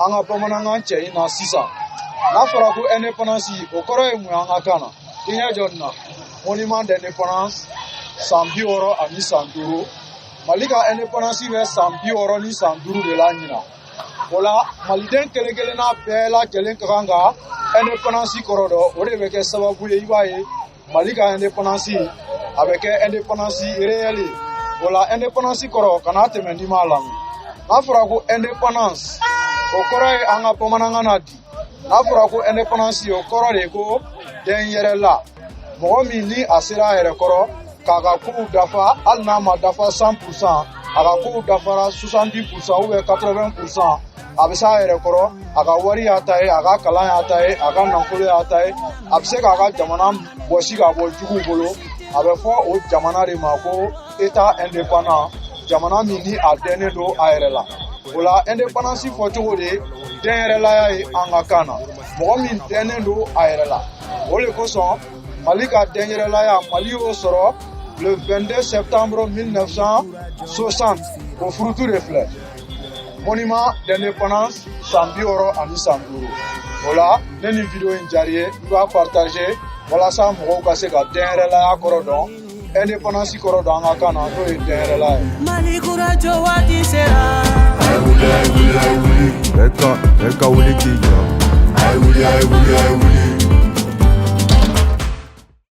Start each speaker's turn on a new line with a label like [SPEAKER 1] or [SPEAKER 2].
[SPEAKER 1] an ka bamanankan cɛɲi na sisan n'a fɔra ko indépendance o kɔrɔ ye mun ye an ka kan na i ɲɛ jɔ nin na monument d'indépendance san bi wɔɔrɔ ani san duuru mali ka indépendance bɛ san bi wɔɔrɔ ni san duuru de la ɲina o la maliden kelen kelenna bɛɛ lajɛlen ka kan ka indépendance kɔrɔ dɔn o de bɛ kɛ sababu ye i b'a ye mali ka indépendance a bɛ kɛ indépendance réelle ye o la indépendance kɔrɔ kana tɛmɛ n'i m'a lamɛn n'a fɔra ko indépendance o kɔrɔ ye an ka bamanankan na di n'a fɔra ko indépendance o kɔrɔ de ye ko dɛnyɛrɛla mɔgɔ min ni a sera a yɛrɛ kɔrɔ k'a ka kow dafa hali n'a ma dafa 100 pourcent a ka kow dafara 70 pourcent ou bien 80 pourcent a bɛ s'a yɛrɛ kɔrɔ a ka wari y'a ta ye a ka kalan y'a ta ye a ka nafolo y'a ta ye a bɛ se k'a ka jamana bɔsi ka bɔ juguw bolo a bɛ fɔ o jamana de ma ko etat indépendant jamana min ni a dɛnnen don a yɛrɛ la o la indépendance fɔcogo de ye dɛnyɛrɛlaya ye an ka kan na mɔgɔ min dɛnnen don a yɛrɛ la o de kosɔn mali ka dɛnyɛrɛlaya mali y'o sɔrɔ le 22 septembre 1960 o furutu de filɛ monument d'indépendance san bi wɔɔrɔ ani san duuru o la ne ni video in diyara i ye i b'a partage walasa mɔgɔw ka se ka dɛnyɛrɛlaya kɔrɔ dɔn indépendance kɔrɔ dɔn an ka kan na n'o ye dɛnyɛrɛlaya ye. mali kura jɔ waati sera. a ye wuli a ye wuli a ye wuli. bɛɛ ka bɛɛ ka wuli k'i jɔ. a ye wuli a ye wuli a ye wuli.